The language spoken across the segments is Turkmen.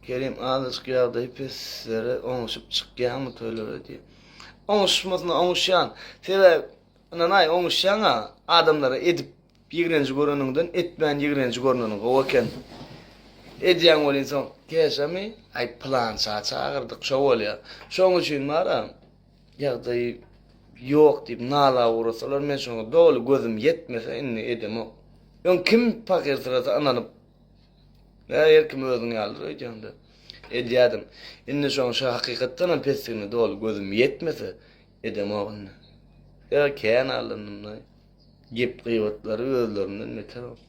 Kerim azajyk ýagdaýy peslere oňuşyp çykýaňmy toýlara diýip. Oňuşmasyna oňuşýan. Sebäbi ynanaý oňuşýaňa adamlara edip ýigrenji göreniňden etmän ýigrenji görneniň gowy eken. Edýäň welin soň käşemi aý pylança çagyrdyk şo bolýa. Şoň üçin bara ýagdaýy ýok diýip nala ugrasalar men şoňa doly gözüm ýetmese indi edemok. Öň kim pakyrsyrasa ynanyp Mä her kim özüň ýalydyr öýdýäňdä. Edýädim. Indi şoň şa hakykatdanam pesdigini doly gözüm ýetmese, edemok indi. Ýa kän allandym-laý. Gep-gybatlary özlerinden beter bolup.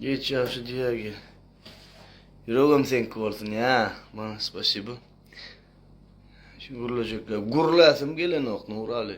Geç ýagşy diýäge. Ýüregem seňki bolsun, ýa. Maňa spasibo. Şu gürlejekler. Gürläsim gelenok, Nuraly.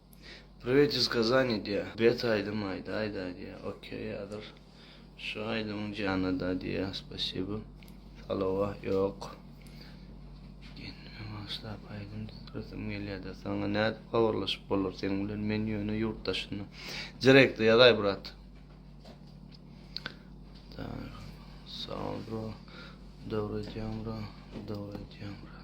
Priwet iz kazani diýä. Bet aýdym aýda aýda diýä. Okey ýazyr. Şu aýdymyň jana da diýä. Spasibo. Salowa ýok. Kendime bagyşlap aýdym düzresim gelýäda. Saňa nädip habarlaşyp bolar seň bilen men ýöne ýurt daşynda. Direkte ýazaý brat. Sag bro. Dogry aýdýaň bro. Dogry aýdýaň bro.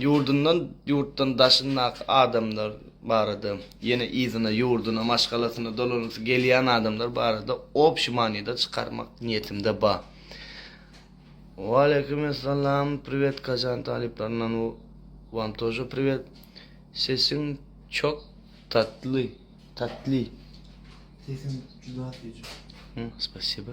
Ýurdundan, ýurtdan daşyndaky adamlar barada, ýene yzyna, ýurduna, maşgalasyna dolansy gelýän adamlar barada obşi manyda çykarmak niýetimde ba. Waleýkim essalam priwet Kazan talyplaryndan Wam tože priwet Sesiň çok tatly tatly Sesiň juda süýji. Spasiba.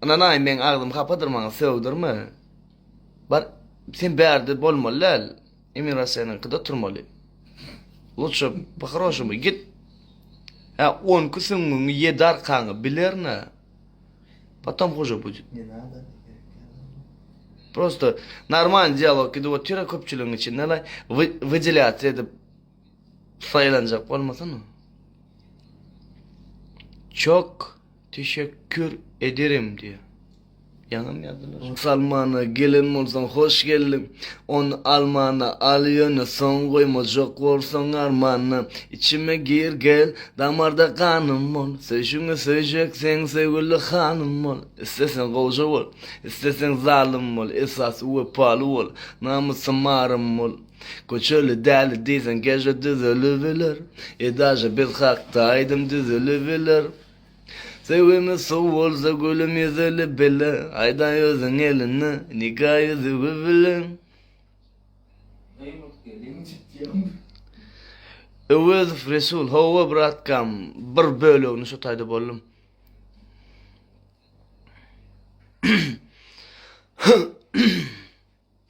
Ynanaý meň agzym hapadyr maňa sögdirme bar sen bärde bolmaly däl emin rossiýanyňkyda turmaly luçşe pohoroşumy git hä on iki süňňüňi ýedi arkaňy bilerine potom huje budit Ne nada prosto normalny dialog gidip otyr köpçüligiň içinde laý wydylyatsia edip saýlanjak bolmasana çok Teşekkür ederim diýýär. Ýaňam ýazdylar. Ony almana gelen bolsaň hoş geldiň, Ony almana al ýöne soň goýmajak bolsaň armana, Içime gir gel, damarda ganym bol, Söýşüňi söýjek sen söýgüli hanym bol, Isleseň gowja bol, isleseň zalym bol, Esasy wepaly bol, namysym arym bol, Köçeli däli diýseň gece düzelibiler, Edaja biz hakda aýdym düzülibiler. Söýgimiz suw bolsa gülüm ýüzülip bile, Aýdaý özüň elini nika ýüzügi bilen. Öwezow Resul Hawa bratkam bir bölegini şu taýda boldum.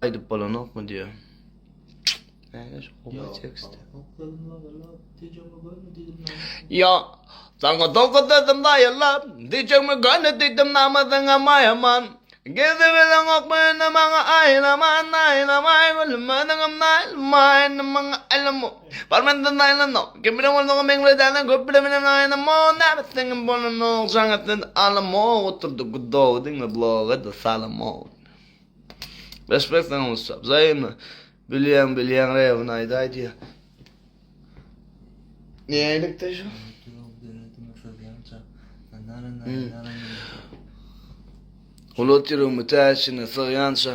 Aýdyp bolanokmy diýýä. Näme şu gowy tekst. Ýa Saňa dogry dedim daýylla, diýjegmi göni diýdim namazyňa maýaman. Gezip bileňokmy indi maňa aýlaman, aýlamaý gülüm özüňem naýylmaý indi maňa aýlama. Bar mende naýlanok, kim bilen bolsaňam meň bilen däl-de köp bilen bilen aýlama, näbit seňem bolanok jaň etmedi alama, oturdy gudow diňle bloga-da salama. Respekt sana Musa. Zaýmy. Bilýän bilýän rebini aýda aýdýa. Ne aýlyk da şu? Ulut ýürek mütäşini sygýança,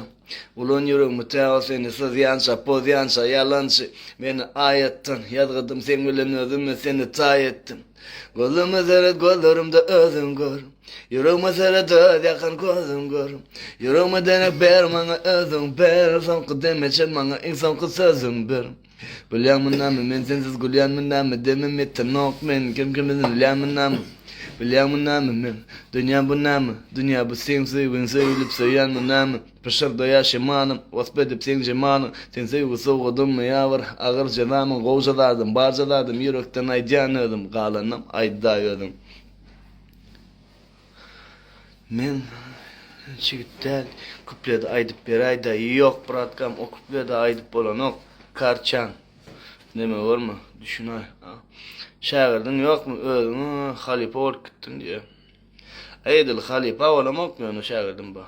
ulan ýürek mütä o seni syzýança, pozýança, ýalançy, meni aýatdan, ýazgydym seň bilen özüm, men seni taý etdim. Gözüme seret gözlerimde özüň gör Ýüregime seret döz ýakan gözüň gör Ýüregime deňek ber maňa özüň ber Soňky demeçe maňa iň soňky sözüň ber Gülýänmi näme men sensiz gülýänmi näme Demim ýetenok men kim kim bilen ölýänmi näme Bilýäňmi näme men dünýä bu näme Dünýä bu seň söýgiň söýülip söýýänmi näme Pyşyrdaýar şemanym, Wasp edip seň jemalyň. Sen söýgi sowgadymmy ýa bir agyr jezamyň? Gowja zadym, barja zadym ýürekden aýdýan özüm, Galanynam aýda özüň. Men jigit däl, kupledi aýdyp beräýdä, Ýok, bratkam, o kupledi aýdyp bolanok, Karçan, deme görme, düşünäý, a. Şägirdiň ýokmy özüň, a, Halypa bolup gitdiň diýýä. Aý edil halypa bolamokmy ýöne şägirdim ba.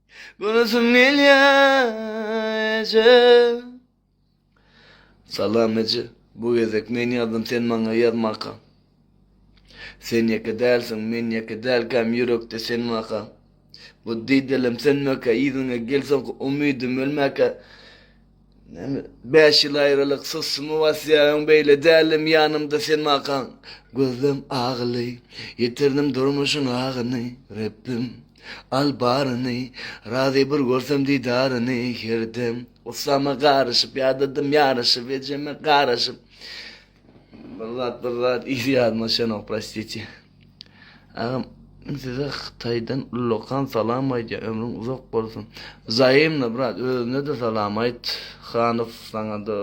Görasym gelýä eje. Salam eje. Bu gezek men ýazdym sen maňa ýazmaka. Sen ýeke dälsiň men ýeke dälkäm ýürekde sen baka. Bu didelem sönmäkä yzyňa gelsoňky umydym ölmäkä. Näme, bäş ýyl aýralyk, sossumy basýaň, beýle däldim ýanymda sen bakaň. Gözlem agyly, ýitirdim durmuşyň agyny, Rebbim, al baryny, razy bir görsem didaryny her dem. Gussama garyşyp, ýadadym ýaraşyp, ejeme garaşyp. Bir zat bir zat izi ýadyma düşenok prostiti. Agam men size Hytaýdan ullakan salam aýdýan ömrüň uzak bolsun. Zaýymna brat özüne de salam aýt. Hanow saňa da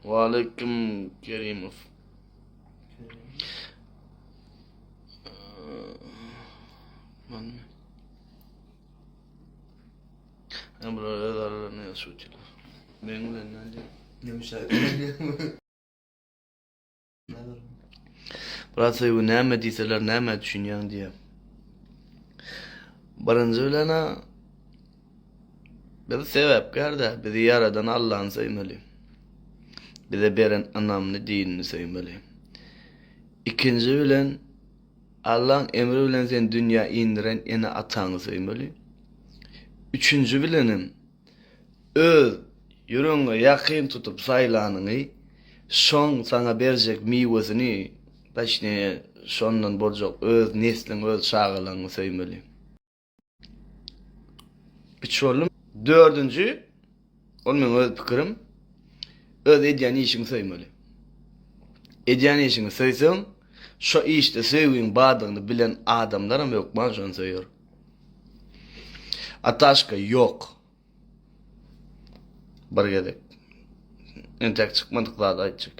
Waleýkim Kerimow. Ee, Hem bular öz aralarına yazışıyorlar. Benim bilen ne diyor? Ne müşahede ediyor? Brat Soygu näme diýseler näme düşünýäň diýe. Birinji bilen ha biz sebäpkär däl, bizi ýaradan Allahny söýmeli. Bize beren ynamly dinini söýmeli. Ikinji bilen Allaň emri bilen seni dünýä indiren ene-ataňy söýmeli. Üçünji bilenem, öz ýüregiňe ýakyn tutup saýlanyňy, şoň saňa berjek miwesini, daşnije, şondan boljak öz nesliňi, öz çagalaňy söýmeli. Üç boldum. Dördünji, ol meň öz pikirim, öz edýän işiňi söýmeli. Edýän işiňi söýseň, şo işde söýgiň bardygyny bilen adamlaram hökman şony söýer. Ataşka ýok. Bir gezek. Entek çykmadyk zady aýtjak.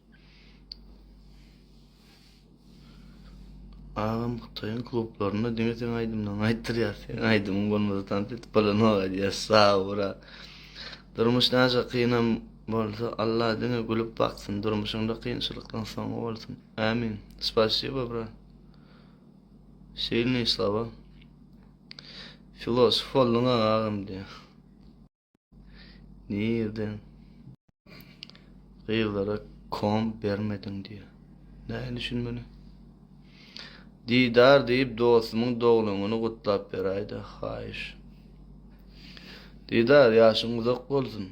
Agam Hytaýyň klublarynda diňe seň aýdymlaryňy aýtdyrýar. Seň aýdymyň bolmasa tans edip bolanok aýdýar. Sag bol. Durmuş näçe kynam bolsa Allah diňe gülüp baksyn. Durmuşyňda kynçylykdan soň bolsun. Amin. Spasibo bra. Silniý slova. Filosof bolduň agam diýär. Nirden gyzlara kom bermediň diýýär. Näin düşünmeli? Didar diýip dostumyň dogluňyny gutlap beräýdä, haýyş. Didar, ýaşyň uzak bolsun.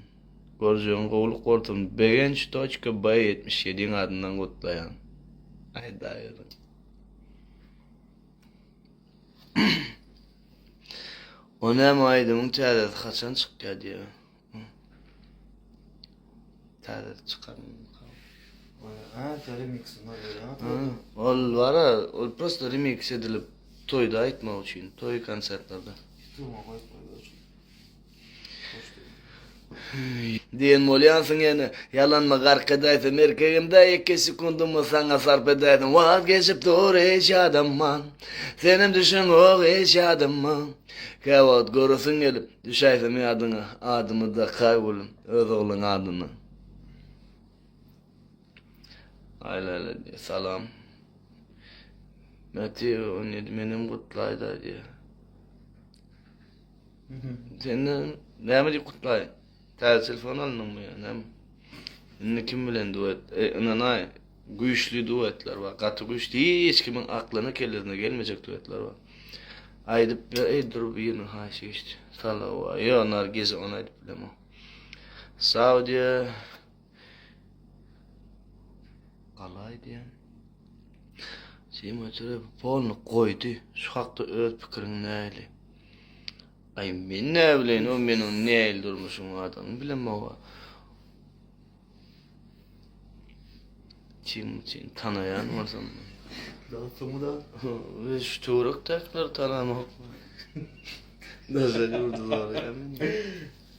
Görjegiň gowulyk bolsun. Begenç toçka B ýetmiş ýediň adyndan gutlaýan. Aýdaýberin. O näme aýdymyň täzesi haçan çykýar diýýär. Täze çykaryn. Ha, remix var ya. Ol var ya, ol prosta remix edilip toýda aýtmak üçin, toý konsertlerde. Tuğma koyup koyup. Diýen bolýansyň ýene. Ýalanma gark edäýsem erkegimde iki sekundymy saňa sarp edäýdim Wagt geçip dur hiç ýadyma Senem düşeňok hiç ýadyma Käwagt göresim gelip düşäýsem ýadyňa Adymy dakaý gülüm öz oglan adyna Aý Laýla diýýär salam Mäti on ýedi menem gutlaýda diýýär. Senden näme diýip gutlaýyn? Täze telefon aldyňmy ýa näme? Indi kim bilen duet? E, ynanaý, güýçli duetler bar, gaty güýçli, hiç kimiň aklyna kellesine gelmejek duetler bar. Aýdyp ber, eý, dur biriniň haýşy geçdi. Salawa, ýo, Nargize, ony aýdyp bilemok. Saudiýa, Gala aýdýan. Sima çöre polny goýdy. Şu hakda öz pikiriň näli? Aý men ne bilen o meniň näil durmuşum adam bilen mawa. Kim sen tanaýan bolsam. Dostum da we şu töwrek taklar tanamak. Nazar urdular ya.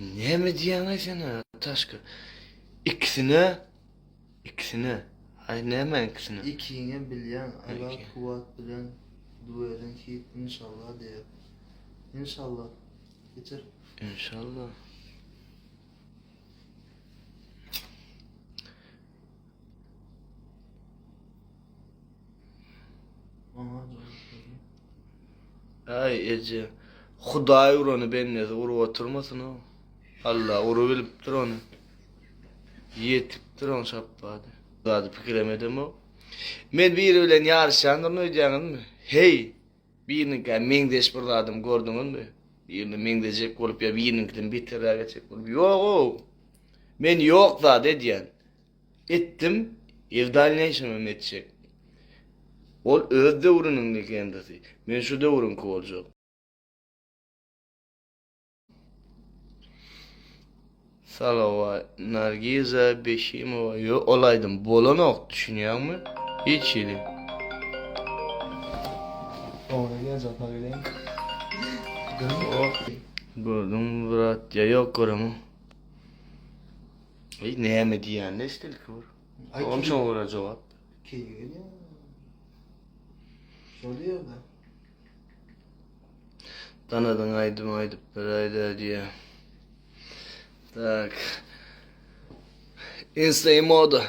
Näme diýýäňaý sen ha, Taşka? Ikisine, ikisine. Aý näme ikisine? Ikiňe bilýän, Allah kuwwat bilen duweden hit inşallah diýer. Inşallah. Geçer. Inşallah. Ay Ece. Hudaý urany bendesi urup oturmasyn o. Allah urup bilipdir onu. Yetipdir on şapbady. Zady pikirem edemok. Men biri bilen yarışýandygyny öýdýäňizmi? Heý! Biriniňkä meňzeş bir zadam gördüňizmi? Birine meňzejek bolup ýa biriniňkiden beterräk etjek bolup, Ýog-ow! Men ýok zat edýän. Etdim i w dalneýşem hem etjek. Ol öz döwrüniň legendasy. Men şu döwrüňki boljak. Salawa Nargiza Beşimowa yo ol aýdym bolanok düşünýäňmi? Hiç hili. Oňa gel japa geleň. Gördüňmi brat ýa ýok göremok. Eý näme diýýän estelki bir. Oňam şoňa görä jogap. Keýgi gelýär. Şol ýerde. Danadyň aýdym aýdyp beräýdä diýä. Tak. Instagram moda.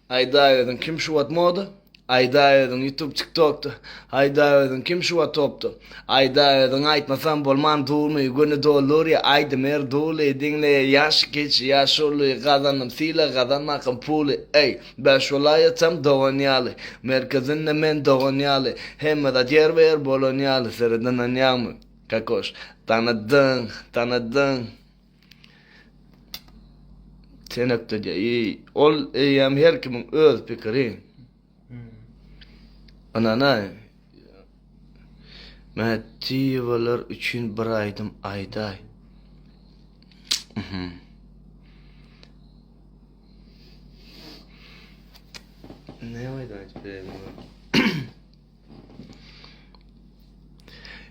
Aýda özüň kim şu wagt moda? Aýda özüň YouTube TikTokda. Aýda özüň kim şu wagt topda? Aýda özüň aýtmasam bolman durmy? Göni dolur ýa aýdym er duly. Diňle ýaş kiç ýaş uly. Gazandym sylag gazanmakam puly. Eý. Bäş welaýatam dogan ýaly, Merkezinde men dogan ýaly, Hemme zat ýerbe-ýer bolan ýaly, Sere dananýaňmy, Kakoş? Tanadyň, tanadyň. Tenekdeje, iý, ol eýýäm her kimiň öz pikiri. Ynanaý. Mätiýewalar üçin bir aýdym aýdaý. Mhm. Ne aýdaýjy beýle?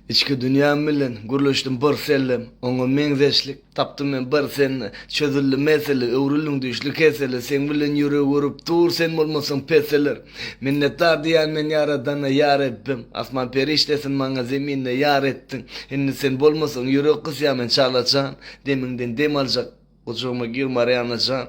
Içki dünýäm bilen gürleşdim bir sellem, oňa meňzeşlik Tapdym men bir sen çözüldi mesele öwrüldiň düşli kesele seň bilen ýüregi urip dur sen bolmasaň peseler minnetdar diýýän men ýaradana ýa rebbim asman perişdesin maňa zeminde ýar etdiň indi sen bolmasaň ýürek gysýa men çalajan demiňden dem aljak gujagyma gir marianajan.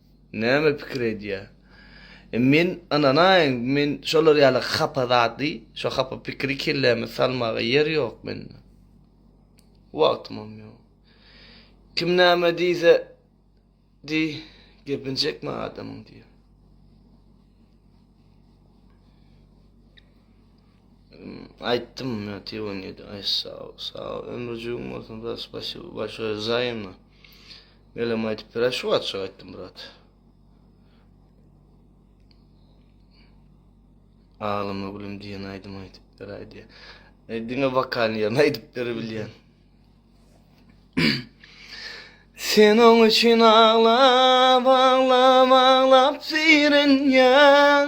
Näme pikir edýär? E men ynanaýyn, men şolar ýaly hapa zady, şo hapa pikiri kelläme salmaga ýer ýok mende. Wagtymam ýok. Kim näme diýse diý, gepini çekme adamyň diýýär. Aýtdym, men telefon ýedi. Aý sag, sag ömrüjigiň bolsun, başy, başy zaýymna. Melem aýdyp berä şu açyk aýtdym brat. Ağlama gülüm diýen aýdym aýdyp beräý diýe. E, diňe wokalny ýerine aýdyp berebilýän. Sen oň üçin aglap, aglap, aglap sirenýäň.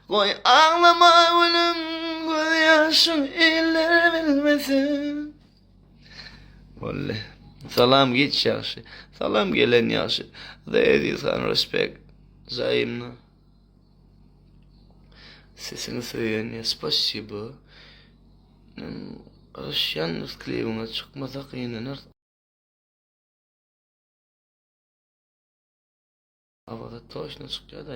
Goý, aglama gülüm, gözýaşyň iller bilmesin. Wally. Salam giç ýagşy. Salam gelen ýagşy. The Aziz Han respect. Zaýymna. Sesini söýen ýa spasibo. Men garaşýan klibiňe çykmasa gynanar. Awaza toşna çykýar da.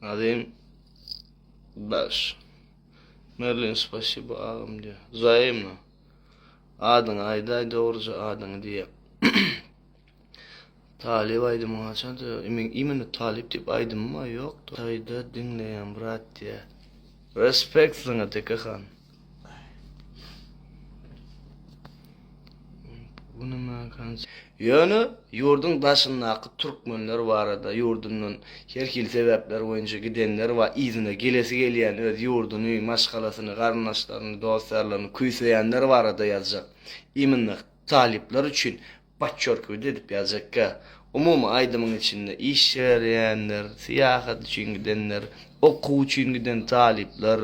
Azim Baş. Merlin spasibo agam diýä. Zaýymna. Adyňy aýdaý dogruja adyňy diýä. Talyp aýdym haçan diýä. Imen imen talyp diýip aýdym bar ýokdy. Taýda diňleýän brat diýä. Respekt saňa Teke han. Ýöne ýurduň daşyndaky türkmenler barada ýurdundan her hili sebäpler boýunça gidenler bar, yzyna gelesi gelýän, öz ýurduny, maşgalasyny, garyndaşlaryny, dost-ýarlaryny küýseýänler barada ýazjak. Imенно talyplar üçin Podçerkividi edip ýazjakka. Umumy aýdymyň içinde iş berýänler, syýahat üçin gidenler, okuw üçin giden talyplar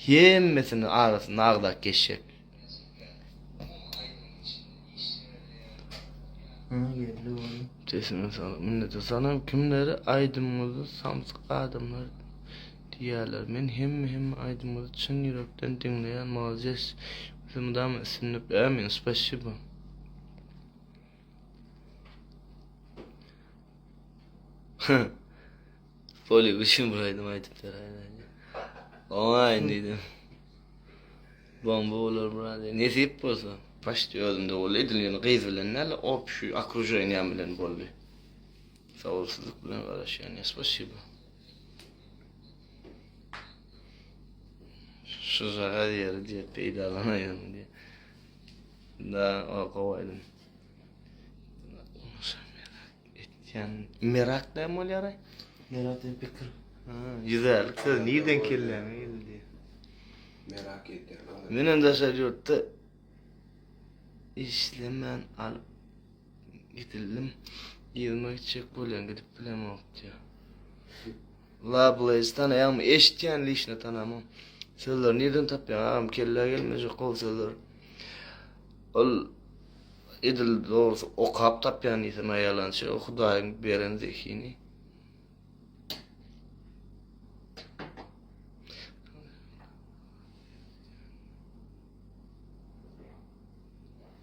hemmesini arasynda agzap geçjek. Sesiňe saglyk minnetdar. Salam kimleri aýdymyňyzda samsyk adamlar diýýärler. Men hemme hemme aýdymyňyzy çyn ýürekden diňleýän molades. Ýosa mydama üstünlik ämin spasibo. Poli üçin bir aýdym aýdyp beraýýardy. Oňa indi bomba bolar brady. Nesip bolsa. Başda özümde boldy. Edil ýöne gyz bilen näle, op şu okruženiýam bilen boldy. Sabyrsyzlyk bilen garaşýan. Spasibo. Şu zagaz ýeri diýip peýdalanaýan diýip. Da o gowy edin. Etýän merak da bolýar. Merak diýip pikir. Ha, ýüzärlik söz nirden kelläňe geldi? Merak etýän. Men hem daşary ýurtda işlemän alyp Gidildim. Ýygyma gitjek bolýan, gidip bilemok diýýär. Lablaýys tanaýaňmy? Eşitýän lişne tanamam. Sözleri nirden tapýaň agam? Kellä gelmejek gowy sözler. Ol edil dogrusy okap tapýan diýsem aýalançy, o Hudaýyň beren zehini.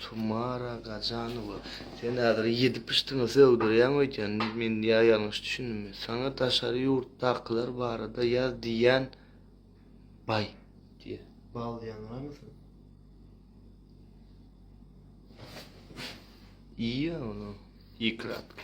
Tumara Gajanowa, sen häzir ýedi pyşdyňy sögdürýäň öýdýän, men ýa ýalňyş düşündimmi? Saňa daşary ýurtdakylar barada ýaz diýýän baý. Diýe. Bal ýaňramysyň? Iýýä ony ikratka.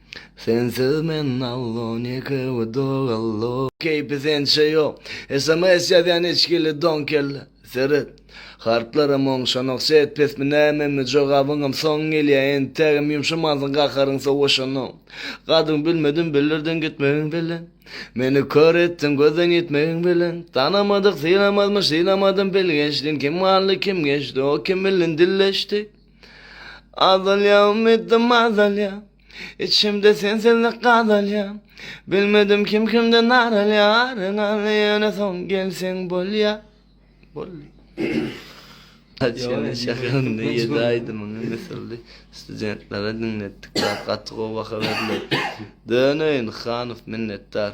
Sensiz men allo neke we dogallo. Keýpi sençe ýok. Sms ýazýan içgili don kelle. Seret. Harplaram oňşanok set pesmi nämemi jogabyňam soň gelýä entägem ýumşamansyň gaharyň sowaşanok. Gadyň bilmedim bildirdiň gitmegiň bilen. Meni kör etdiň gözden ýitmegiň bilen. Tanamadyk sylamazmyş sylamadym bilgeşdin kim galdy kim geçdi o kim bilin dilleşdik. Azalýa umytym azalýa Içimde sensizlik gazalýa Bilmedim kim kimden naralýa Aryň alny ýöne soň gelseň bolýa Boldy Açgynly şakagynly ýedi aýdymyňy misirli studentlere diňletdik bar gaty gowy baha berler Döneýin Hanow minnetdar.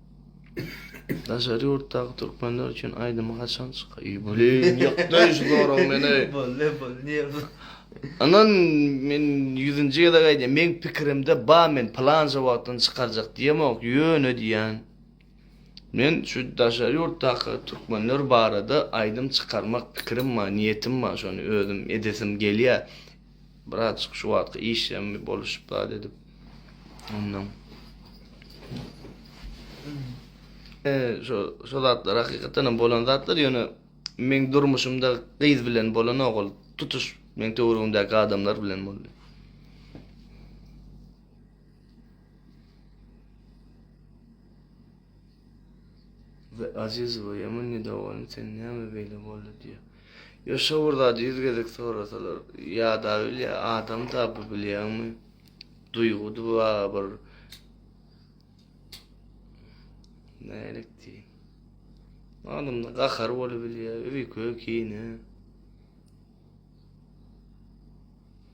Daşary ýurtdaky türkmenler üçin aýdymy haçan çyka ýy bolin ýykdy şu zorag meni. Bolly bolly nir bu. Anan men ýüzünji gezek aýdýan meň pikirimde ba men pylanca wagtdan çykarjak diýemok ýöne diýän men şu daşary ýurtdaky türkmenler barada aýdym çykarmak pikirim ba niýetim ba şony özüm edesim gelýä. Bratjyk şu wagtky işem boluşyp zat edip ondan. Şo şo zatlar hakykatdan hem bolan zatlar ýöne meň durmuşymda gyz bilen bolanok ol tutuş meň töweregimdäki adamlar bilen boldy. Be, Azizowa, ýaman nedowalyň, sen näme beýle boldy? diýýär. Ýa şo bir zady ýüz gezek sorasalar, ýa-da bilýä, adam-da bu, bilýäňmi, duýgudy ba bir. Nälik diýiň. Adamda gahar bolubilýär, öýke, kine.